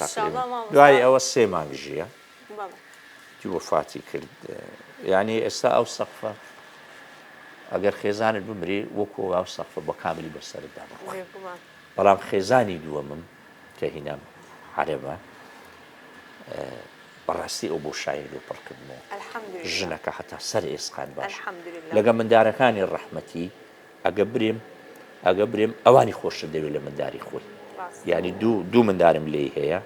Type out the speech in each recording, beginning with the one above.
تەقریبەن دوای ئەوە سێ مانگ ژییە جی وەفاتی کرد یعنی ئێستا ئەو سەقفە ئەگەر خێزانت بمری وەکو ئەو سەقفە بە کاملی بەسەردا بڕوە بەڵام خێزانی دووەمم کە هینام عربە بەڕاستی ئەو بۆ شاعیر و پڕکردنەوە ژنەکە حتا سەر ئێسقان باش لەگە مندارەکانی ڕەحمەتی ئەگە برێم ئەگە برێم ئەوانی خۆشتر دەوێت لە منداری خۆی ینی دوو دوو مندارم لێی هەیە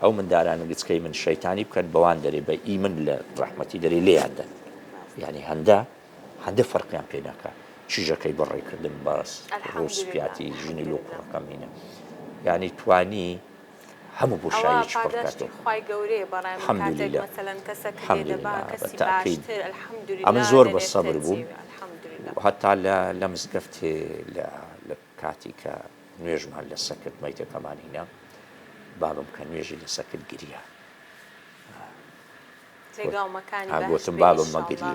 ئەو منداران گچکەی من شەیتانی بکەن بەوان دەرێ بە ئی من لە ڕحمەتی دەرێ لێیاندەن ینی هەندە هەندە فەرقیان پێ ناکە چیژەکەی بەڕێکردن باس ڕوسپیاتی ژنی لۆ کوڕەکەمینە ینی توانی هەموو بۆشاییەکی پڕ کاتێ. ئەوە پاداشتی خوای گەورەیە بەڕای من کاتێک مەسەلەن کەسەک لێ دەبا کەسی باشتر الحمدللە ئەمن زۆر بە سەبر بووم الحمدللە هەتا لە لە مزگەفتێ لە لە کاتی کە نوێژمان لە سە کرد مەیتەکەمان هینا بابم کە نوێژی لە سە کرد گریا جێگاو مەکانی بەهەشت بێ ئینشاللە گۆتم بابم مەگریە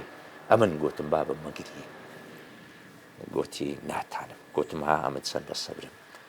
ئەمن گۆتم بابم مەگریە گۆتی ناتانم گۆتم ها ئەمن چەندە سەبرم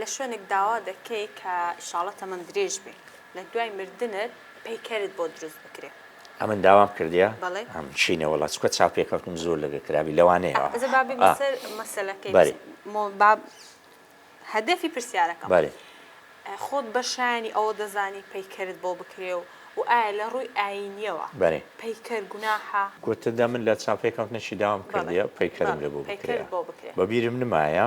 لە شوێنک داوا دەکەی کە ئیشاڵە تەمەن درێژ بی لە دوای مردنت پەیکەرت بۆ دروست بکرێ. ئەمن داوام کردیە ئەم چینە وەڵا چکە چاو پێکەوتم زۆر لەگە کرابی لەوانەیە ئەزە بابی بەسەر مەسەلەکەی بەری مۆ باب هەدەفی پرسیارەکە بەری خۆت بە شایانی ئەوە دەزانی پەیکەرت بۆ بکرێ و و ئایا لە ڕووی ئاینیەوە بەری پەیکەر گوناحە گوتە دە من لە چاو پێکەوتنەشی داوام کردیە پەیکەرم لە بۆ بکرێ بەبیرم نمایە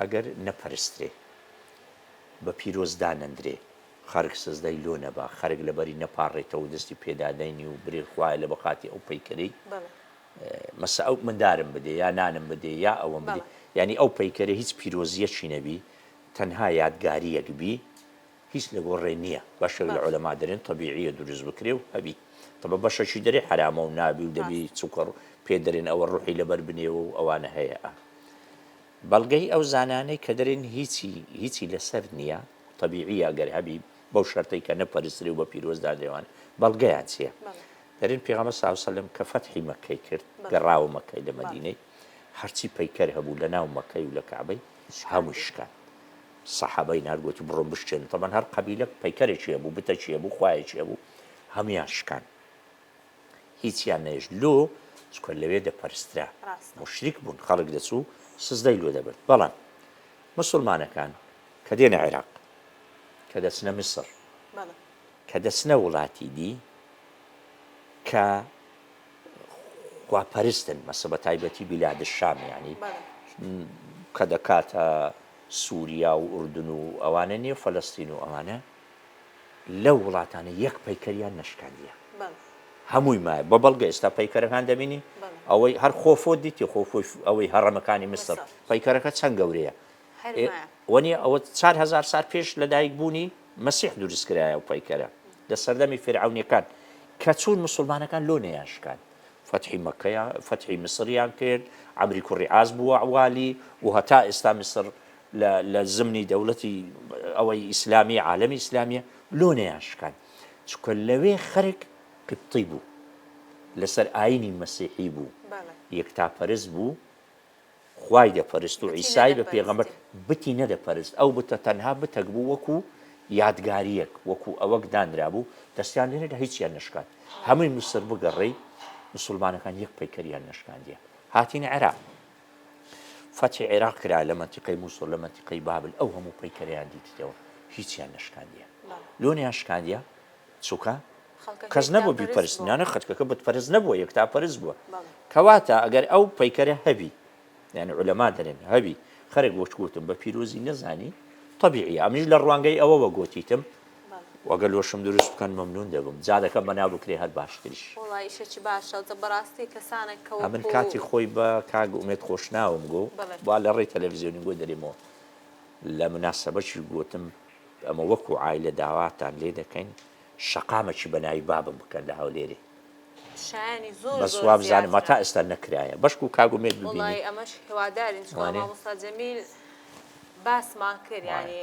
ئەگەر نەپەرسترێ بە پیرۆز دانەندرێ، خەرک سزدای لۆ نەبا، خەرک لە بەری نەپاڕێتەوە و دەستی پێ دادەینی و برێ خوایە لە بەخاتێ ئەو پەیکەرەی مەسە ئەو مندارم بدێ یا نانم بدێ یا ئەوەم بدێ، یانی ئەو پەیکەرە هیچ پیرۆزییەکی نەبی، تەنها یادگارییەک بی، هیچ لە گۆڕێ نییە، بەشێک لە عولەما دەرێن تەبیعییە دروست بکرێ و هەبی، تەبە بەشەکی دەرێ حەرامە و نابی و دەبی چونکە پێ دەرێن ئەوە ڕوحی لە بەر بنێوە و ئەوانە هەیە ئا. بەڵگەی ئەو زانانەی کە دەرێن هیچی هیچی لەسەر نیە تەبیعیە گەر هەبی بەو شەرتەی کە نەپەرسترێ و بە پیرۆز دادەێوان بەڵگەیان چیە دەرێن پێغەمبەر صلی اللە علیە و سلم کە فەتحی مەکەی کرد گەڕاوە مەکەی لە مەدینەی هەرچی پەیکەر هەبوو لە ناو مەکەی و لە کەعبەی هەمووی شکان سەحابەی نارد گۆتی بڕۆن بشکێنن تەبەن هەر قەبیلە پەیکەرێکی هەبوو بتەکی هەبوو خوایەکی هەبوو هەمویان شکان هیچیان نەهێشت لۆ چکە لەوێ دەپەرسترا موشریک بوون خەڵک دەچوو سزدەی لۆ دەبرد بەڵام مسلمانەکان کە دێنە عێراق کە دەچنە میسر کە دەچنە وڵاتی دی کە خواپەرستن مەسە بە تایبەتی بیلاد شام ینی کە دەکاتە سووریا و ئوردن و ئەوانە نیە فەلستین و ئەوانە لەو وڵاتانە یەک پەیکەریان نەشکاندیە هەمووی مایە بە بەڵگە ئێستا پەیکەرەکان دەبینین ئەوەی هەر خۆفۆ دیتی خۆفۆی ئەوەی هەڕەمەکانی میسر پەیکەرەکە چەند گەورەیە وەنیە ئەوە چار هزار سار پێش لە دایک بوونی مەسیح دروستکرایە و پەیکەرە لە سەردەمی فێرعونیەکان کە چوون مسلمانەکان لۆ نەیانشکان فتحی مەکەیان فتحی میسریان کرد ئەمری کوڕی ئاز بووە والی و هەتا ئێستا میسر لە لە زمنی دەولەتی ئەوەی ئیسلامی عالەمی ئیسلامیە لۆ نەیان شکان چکە لەوێ خەرک قبطی بوو لەسەر ئاینی مەسیحی بوو یەکتاپەرست بوو خوای دەپەرست و عیسای بە پێغەمبەر بتی نەدەپەرست ئەو بتە تەنها بتەک بوو وەکو یادگاریەک وەکو ئەوەک دانرا بوو دەستیان لێنەدا هیچیان نشکات هەمووی مسر بگەڕی مسلمانەکان یەک پەیکەریان نشکاندیە هاتین عێراق فەتحی عێراق کرا لە مەنتیقەی موسڵ لە مەنتیقەی بابل ئەو هەموو پەیکەرەیان دیتیتەوە هیچیان نەشکاندیە لۆنیان شکاندیە چووکە کەس نەبوو بیپەرستنانە خەتکەکە بتپەرست نەبووە یەک تا پەرز بووە کەواتە ئەگەر ئەو پەیکەرە هەبی یعنی علەما دەرێن هەبی خەرێک وەچگوتم بە پیرۆزی نەزانی طبیعی ئەمیش لە ڕوانگەی ئەوەوە گوتیتم وە گەر لۆشم دروست بکەن مەمنون دەبم جا دەکەم بەناو بکرێ هەر باشتریش. وەڵا ئیشەکی باشە دە بەڕاستی کەسانەک کە ئەمن وەکو. کاتی خۆی بە کاک ئومێد خۆشناوم گۆ بەڵێ. با لە ڕێی تەلەفزیۆنی گۆ دەرێمەوە لە مناسەبەکی گۆتم ئەمە وەکو عایلە داواتان لێ دەکەین شەقامەکی بە ناوی بابم بکەن لە هەولێرێ شایەنی زۆر بەس زۆر وابزانم زیاترە. هەتا ئێستا نەکرایە بەشکو کاک ئومێد ببینی. وەڵایی ئەمەش هیوادارین چونکە وانێ؟ مامۆستا جەمیل باسمان کرد وایە. یانی.